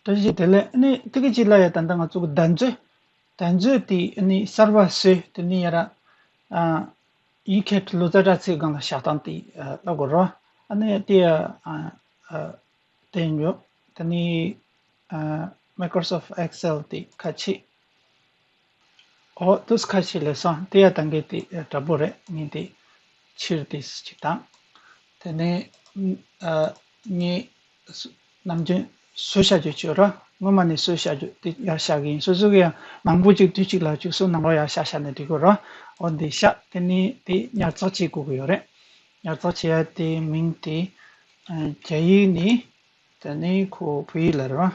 དོན་བཞི་དེ་ལས་ནི་ཐིག་གི་གཅིག་ལ་ཡ་དན་ད་ང་ཚུགས་གདན་མཛོད། གདན་མཛོད་དེ་ནི་གསར་བ་སོས་དེ་ནི་ཡ་ར། ཡིག་མཁས་ལོ་ཙཱ་བྲག་ཚའི་སྒང་ལ་བཞག་སྟངས་དེ་བླ་གོ་རོ། ཨ་ནི་དེ། དེ་ཉོ། དེ་ནི། Microsoft Excel དེ་ཁ་ཆེ། འོ་ཏོ་སྐ་ཤི་ལེ་སང་དེ་ཡ་ད་འགེ་དེ་དྲ་པོ་རེད་ངེ་དེ་ཕྱིར་དེ་ཅིག་དང། དེ་ནས་ངེ་ནམ་རྒྱུན་གསོལ་བྱ་རྒྱུ་བཅུ་ར་སྔོན་མ་ནས་གསོལ་བྱ་རྒྱུ་དེ་ཡར་བྱ་གི་ཡིན་སོ་སོ་གི་ཡང་མང་པོ་ཅིག་དུས་ཅིག་ལ་བཅུག་སོ་ནང་རོ་ཡར་བྱ་བྱ་ནས་འགྲིག་གོ་ར་འོ་འདི་བྱ་དེ་ནས་དེ་ཉར་ཚགས་བྱེད་དགོས་ཀྱི་ཡོད་རེད་ཉར་ཚགས་བྱེད་ཡ་དེ་མིང་དེ་རྒྱ་ཡིག་ནས་དེ་ནས་ཁོ་བོད་ཡིག་ལ་རེད་བ།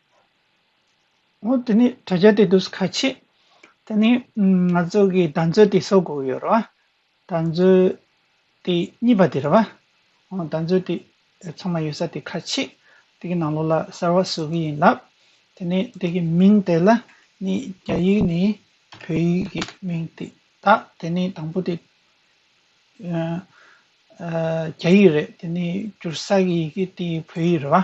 ཨོ་དེ་ནི་དྲ་རྒྱ་དེ་འདུག་ཁ་ཆེ། དེ་ནི་ང་ཚོ་གི་བདག་འཛོལ་དེ་གསོག་དགོས་ཡོད་རེད་བ། བདག་འཛོལ་དེ་གཉིས་པ་དེ་རེད་བ། བདག་འཛོལ་དེ་ཚང་མ་ཡོད་ས་དེ་ཁ་ཆེ། དེ་གི་ནང་ལོགས་ལ་གསར་བ་བཟོ་གི་ཡིན་ལབ། དེ་ནི་དེ་གི་མིང་དེ་ལ་ནི་རྒྱ་ཡིག་ནི་བོད་ཡིག་གི་མིང་དེ་དག་དེ་ནི་དང་པོ་དེ་རྒྱ་ཡིག་རེད་དེ་ནི་བསྒྱུར་ས་གི་ཡི་གེ་དེ་བོད་ཡིག་རེད་བ།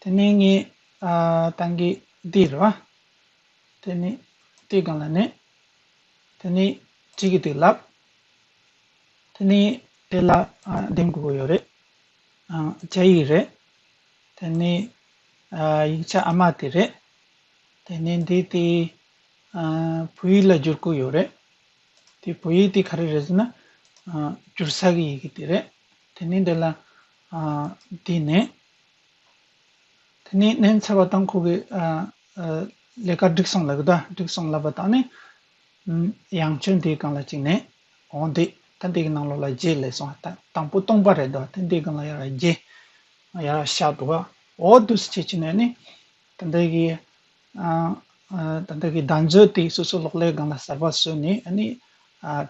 དེ་ནས་ངས་ཏང་གི་དེ་རེད་བ། དེ་ནས་དེ་གང་ལ་གནས། དེ་ནས་ཅི་གི་དེ་ལབ། དེ་ནས་དེ་ལ་འདེམས་དགོས་པོ་ཡོད་རེད། རྒྱ་ཡིག་རེད། དེ་ནས་ཡིག་ཆ་ཨ་མ་དེ་རེད། དེ་ནས་འདི་དེ་བོད་ཡིག་ལ་བསྒྱུར་དགོས་ཡོད་རེད། དེ་བོད་ཡིག་དེ་ག་རེ་རེད་ཟེར་ན། བསྒྱུར་ས་གི་ཡི་གེ་དེ་རེད། དེ་ནས་འདི་ལ་བསྡད་ནས། དེ་ནས་གནས་འཚལ་བ་དང་ཁོ་གི་ལས་ཀ་འགྲིག་སོང་ལབ་གི་དང་འགྲིག་སོང་ལབ་པ་དང་ནི། ཡང་ཆོས་འདིའི་སྒང་ལ་བཅུག་ནས་འོང་བསྡད། ཐེངས་འདིའི་གནང་ལོག་ལ་རྗེས་ལས་སོང་དང་པོ་སྟོང་པ་རེད་འདུག་ཐེངས་འདིའི་སྒང་ལ་ཡར་རྗེས་ཡར་ར་ཤག་འདུག་ཨོ་བསྡུ་སུ་བྱེད་ཅེ་ནས་ནི། ད་འདི་གི་ད་འདི་གི་བདག་མཛོད་དེ་སོ་སོ་ལོག་ལས་སྒང་ལ་གསར་པ་བཟོས་ནས་ནི།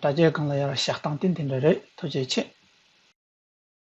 དྲ་རྒྱའི་སྒང་ལ་ཡར་ར་ཤག་བཏང་སྟེ་འདི་འདྲ་རེད་ཐུགས་རྗེ་ཆེ།